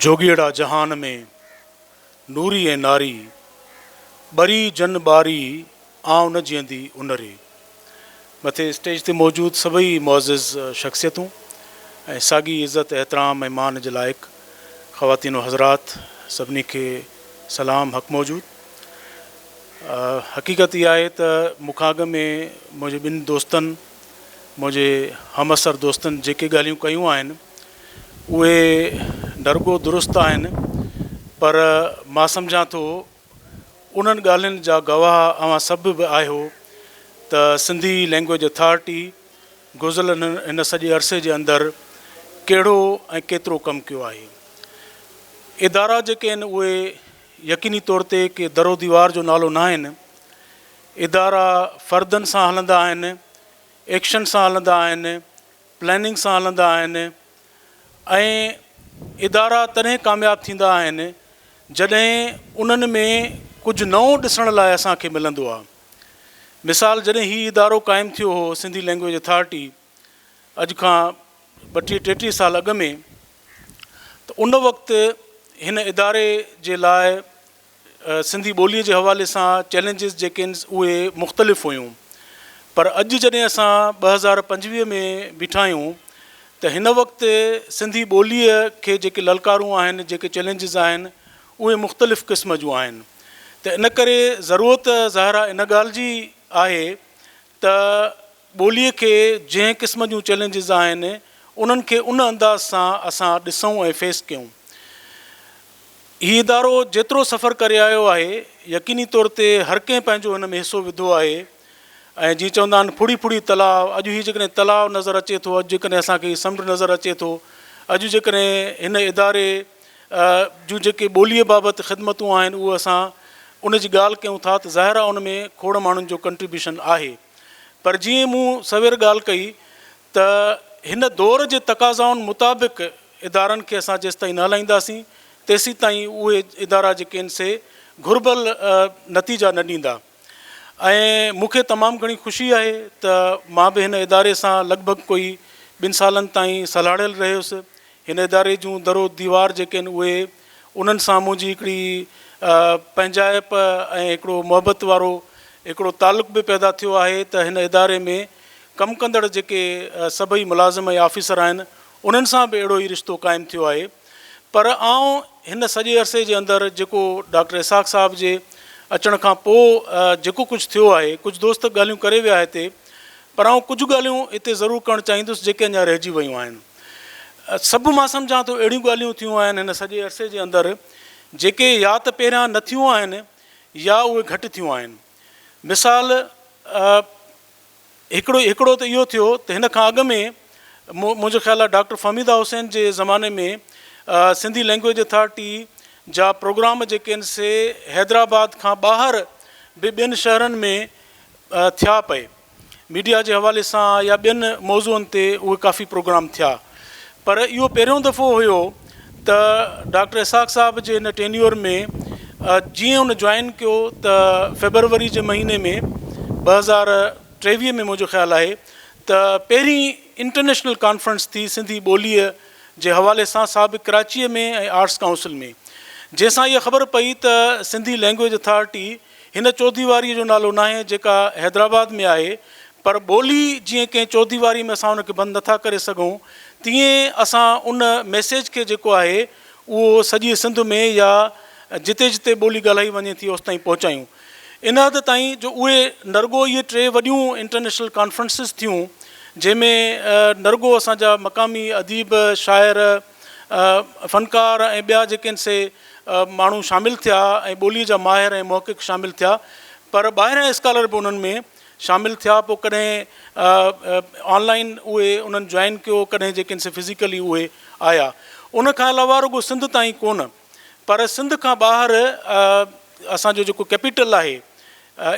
جوڳيئڙا جهان ۾، نوري ۽ ناري، ٻري جن ٻاري، آئون جيئندي ان ري. مٿي اسٽيج تي موجود سڀئي معزز شخصيتون ۽ ساڳي عزت، احترام ۽ مان جي لائق خواتين و حضرات سڀني کي سلام حق موجود. حقيقت اها آهي ته مون کان اڳ ۾ منهنجي ٻن دوستن منهنجي همعصر دوستن جيڪي ڳالهيون ڪيون آهن اهي نرڳو درست آهن پر مان سمجهان ٿو انهن ڳالهين جا گواهه اوهان سڀ به آهيو ته سنڌي لئنگويج اٿارٽي گذريل هن سڄي عرصي جي اندر ڪهڙو ۽ ڪيترو ڪم ڪيو آهي. ادارا جيڪي آهن اهي يقيني طور تي ڪي در و ديوار جو نالو نه آهن. ادارا فردن سان هلندا آهن، ايڪشن سان هلندا آهن، پلاننگ سان هلندا آهن ۽ ادارا تڏهن ڪامياب ٿيندا آهن جڏهن انهن ۾ ڪجهه نئون ڏسڻ لاء اسان کي ملندو آهي مثال جڏهن هي ادارو قائم ٿيو هو سنڌي لينگويج اٿارٽي اڄ کان ٻٽيهه ٽيٽيهه سال اڳ ۾ ته ان وقت هن اداري جي لاء سنڌي ٻوليء جي حوالي سان چئلينجز جيڪي آهن اهي مختلف هيون پر اڄ جڏهن اسان ٻه هزار پنجويهه ۾ بيٺا آهيون ته هن وقت سنڌي ٻوليء کي جيڪي للڪارون آهن جيڪي چئلينجز آهن اهي مختلف قسم جون آهن ته ان ڪري ضرورت ظاهر آهي ان ڳالهه جي آهي ته ٻوليء کي جنهن قسم جون چئلينجز آهن، انهن کي ان انداز سان اسان ڏسون ۽ فيس ڪيون. هي ادارو جيترو سفر ڪري آيو آهي، يقيني طور تي هر ڪنهن پنهنجو هن ۾ حصو وڌو آهي ۽ جيئن چوندا آهن ڦڙي ڦڙي تلاء، اڄ هي جيڪڏهن تلاء نظر اچي ٿو، اڄ جيڪڏهن اسان کي هي سمنڊ نظر اچي ٿو، اڄ جيڪڏهن هن اداري. جون جيڪي ٻوليء بابت خدمتون آهن اهو اسان ان جي ڳالهه ڪيون ٿا ته ظاهر آهي ان ۾ کوڙ ماڻهن جو ڪنٽريبيوشن آهي پر جيئن مون سوير ڳالهه ڪئي ته هن دور جي تقاضائن مطابق ادارن کي اسان جيستائين نه هلائينداسين تيسيتائين اهي ادارا جيڪي آهن سي گهربل نتيجا نه ڏيندا. ۽ مون کي تمام گهڻي خوشي آهي ته مان به هن اداري سان لڳ ڀڳ ڪوئي ٻن سالن تائين سلهاڙيل رهيس. هن اداري جون در و ديوار جيڪي آهن اهي انهن سان منهنجي هڪڙي پنهنجائپ ۽ هڪڙو محبت وارو هڪڙو تعلق به پيدا ٿيو آهي ته هن اداري ۾ ڪم ڪندڙ جيڪي سڀئي ملازم ۽ آفيسر آهن انهن سان به اهڙو ئي رشتو قائم ٿيو آهي. پر آئون هن سڄي عرصي جي اندر جيڪو ڊاڪٽر اسحاق صاحب جي اچڻ کان پوء جيڪو ڪجهه ٿيو آهي، ڪجهه دوست ڳالهيون ڪري ويا هتي، پر آئون ڪجهه ڳالهيون هتي ضرور ڪرڻ چاهيندس جيڪي اڃا رهجي ويون آهن. سڀ مان سمجهان ٿو اهڙيون ڳالهيون ٿيون آهن هن سڄي عرصي جي اندر جيڪي يا ته پهريان نه ٿيون آهن يا اهي گهٽ ٿيون آهن. مثال، هڪڙو هڪڙو ته اهو ٿيو ته هن کان اڳ ۾ مون منهنجو خيال آهي ڊاڪٽر فهميده حسين جي زماني ۾ سنڌي لينگويج اٿارٽي جا پروگرام جيڪي آهن سي حيدرآباد کان ٻاهر به ٻين شهرن ۾ ٿيا پئي ميڊيا جي حوالي سان يا ٻين موضوعن تي اهي ڪافي پروگرام ٿيا پر اهو پهريون دفعو هيو ته ڊاڪٽر اسحاق صاحب جي ان ٽينيور ۾ جيئن ان جوائن ڪيو ته فيبروري جي مهيني ۾ ٻه هزار ٽيويهه ۾ منهنجو خيال آهي ته پهرين انٽرنيشنل ڪانفرنس ٿي سنڌي ٻوليء جي حوالي سان سا به ڪراچيء ۾ ۽ آرٽس ڪائونسل ۾ جنهن سان اها خبر پئي ته سنڌي لينگويج اٿارٽي هن چوديواريء جو نالو ناهي جيڪا حيدرآباد ۾ آهي پر ٻولي جيئن ڪنهن چوديواري ۾ اسان ان کي بند نٿا ڪري سگهون تيئن اسان ان ميسيج کي جيڪو آهي اهو سڄي سنڌ ۾ يا جتي جتي ٻولي ڳالهائي وڃي ٿي اوستائين پهچايون ان حد تائين جو اهي نرڳو اهي ٽي وڏيون انٽرنيشنل ڪانفرنسز ٿيون جنهن ۾ نرڳو اسان جا مقامي اديب شاعر فنڪار ۽ ٻيا جيڪين سي ماڻهو شامل ٿيا ۽ ٻوليء جا ماهر ۽ محقق شامل ٿيا پر ٻاهريان اسڪالر به انهن ۾ شامل ٿيا پوء ڪڏهن آن لائين اهي انهن جوائن ڪيو ڪڏهن جيڪين سي فزيڪلي اهي آيا ان کان علاوه رڳو سنڌ تائين ڪونه پر سنڌ کان ٻاهر اسان جو جيڪو ڪيپيٽل آهي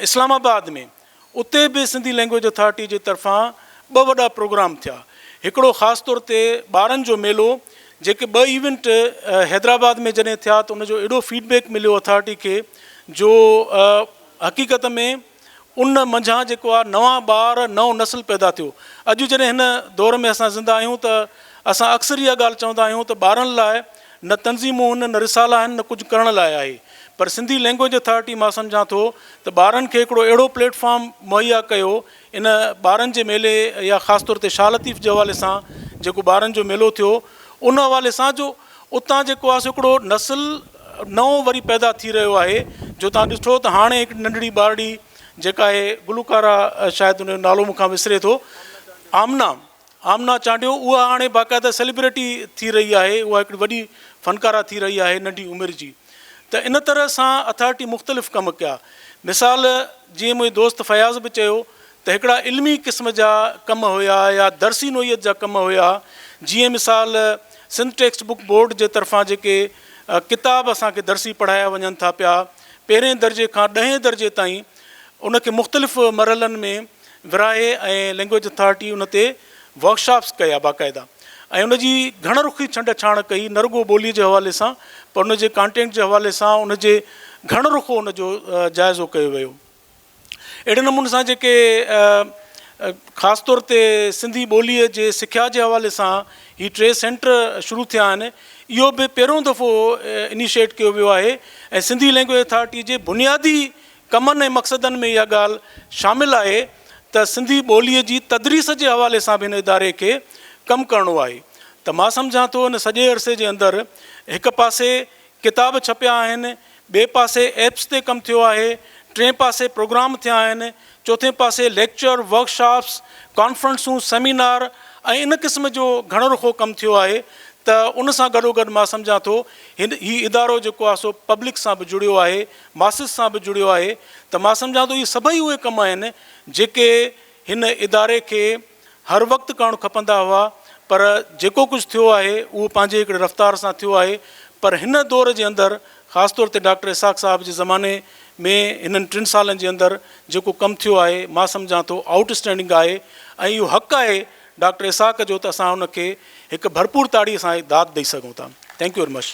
اسلام آباد ۾ اتي به سنڌي لئنگويج اٿارٽي جي طرفان ٻه وڏا پروگرام ٿيا. هڪڙو خاص طور تي ٻارن جو ميلو جيڪي ٻه ايونٽ حيدرآباد ۾ جڏهن ٿيا ته ان جو اهڙو فيڊ بيڪ مليو اٿارٽي کي جو حقيقت ۾ ان منجهان جيڪو آ نوان ٻار نئون نسل پيدا ٿيو. اڄ جڏهن هن دور ۾ اسان زنده آهيون ته اسان اڪثر اها ڳالهه چوندا آهيون ته ٻارن لاء نه تنظيمون هن نه رسالا آهن نه ڪجهه ڪرڻ لاء آهي پر سنڌي لينگويج اٿارٽي مان سمجهان ٿو ته ٻارن کي هڪڙو اهڙو پليٽ فارم مهيا ڪيو ان ٻارن جي ميلي يا خاص طور تي شاهه لطيف جي حوالي سان جيڪو ٻارن جو ميلو ٿيو ان حوالي سان جو اتان جيڪو آهي سو هڪڙو نسل نئون وري پيدا ٿي رهيو آهي جو تان ڏٺو ته هاڻي هڪ ننڍڙي ٻارڙي جيڪا آهي گلوڪاره شايد ان جو نالو مون کان وسري ٿو آمنه آمنا چانڊيو اها هاڻي باقاعده سيليبريٽي ٿي رهي آهي اها هڪڙي وڏي فنڪاره ٿي رهي آهي ننڍي عمر جي ته ان طرح سان اٿارٽي مختلف ڪم ڪيا مثال جيئن منهنجي دوست فياض به چيو ته هڪڙا علمي قسم جا ڪم هيا يا درسي نوعيت جا ڪم هيا جيئن مثال سنڌ ٽيڪسٽ بوڪ بورڊ جي طرفان جيڪي ڪتاب اسان کي درسي پڙهايا وڃن ٿا پيا پهرين درجي کان ڏهين درجي تائين ان کي مختلف مرحلن ۾ وراهي ۽ لينگويج اٿارٽي ان تي ورڪشاپس ڪيا باقاعده ۽ ان جي گهڻ رخي ڇنڊ ڇاڻ ڪئي نه رڳو ٻولي جي حوالي سان پر ان جي ڪانٽينٽ جي حوالي سان ان جي گهڻ رخو ان جو جائزو ڪيو ويو اهڙي نموني سان جيڪي خاص طور تي سنڌي ٻولي جي سکيا جي حوالي سان هي ٽي سينٽر شروع ٿيا آهن اهو به پهريون دفعو انيشيٽ ڪيو ويو آهي ۽ سنڌي لينگويج اٿارٽي جي بنيادي ڪمن ۽ مقصدن ۾ اها ڳالهه شامل آهي ته سنڌي ٻوليء جي تدريس جي حوالي سان به هن اداري کي ڪم ڪرڻو آهي ته مان سمجهان ٿو ان سڄي عرصي جي اندر هڪ پاسي ڪتاب ڇپيا آهن، ٻئي پاسي ايپس تي ڪم ٿيو آهي، ٽئين پاسي پروگرام ٿيا آهن، چوٿين پاسي ليڪچر، ورڪ شاپس، ڪانفرنسون، سيمينار ۽ ان قسم جو گهڻو رخو ڪم ٿيو آهي ته ان سان گڏوگڏ مان سمجهان ٿو هي ادارو جيڪو آهي سو پبلڪ سان به جڙيو آهي ماسس سان به جڙيو آهي ته مان سمجهان ٿو اهي سڀئي اهي ڪم آهن جيڪي هن اداري کي هر وقت ڪرڻ کپندا هئا پر جيڪو ڪجهه ٿيو آهي اهو پنهنجي هڪڙي رفتار سان ٿيو آهي پر هن دور جي اندر خاص طور تي ڊاڪٽر اسحاق صاحب جي زماني ۾ هنن ٽن سالن جي اندر جيڪو ڪم ٿيو آهي مان سمجهان ٿو آئوٽ اسٽينڊنگ آهي ۽ اهو حق آهي ڊاڪٽر اسحاق جو ته اسان ان کي هڪ ڀرپور تاڙي سان داد ڏئي سگهون ٿا ٿينڪ يو ويري مچ.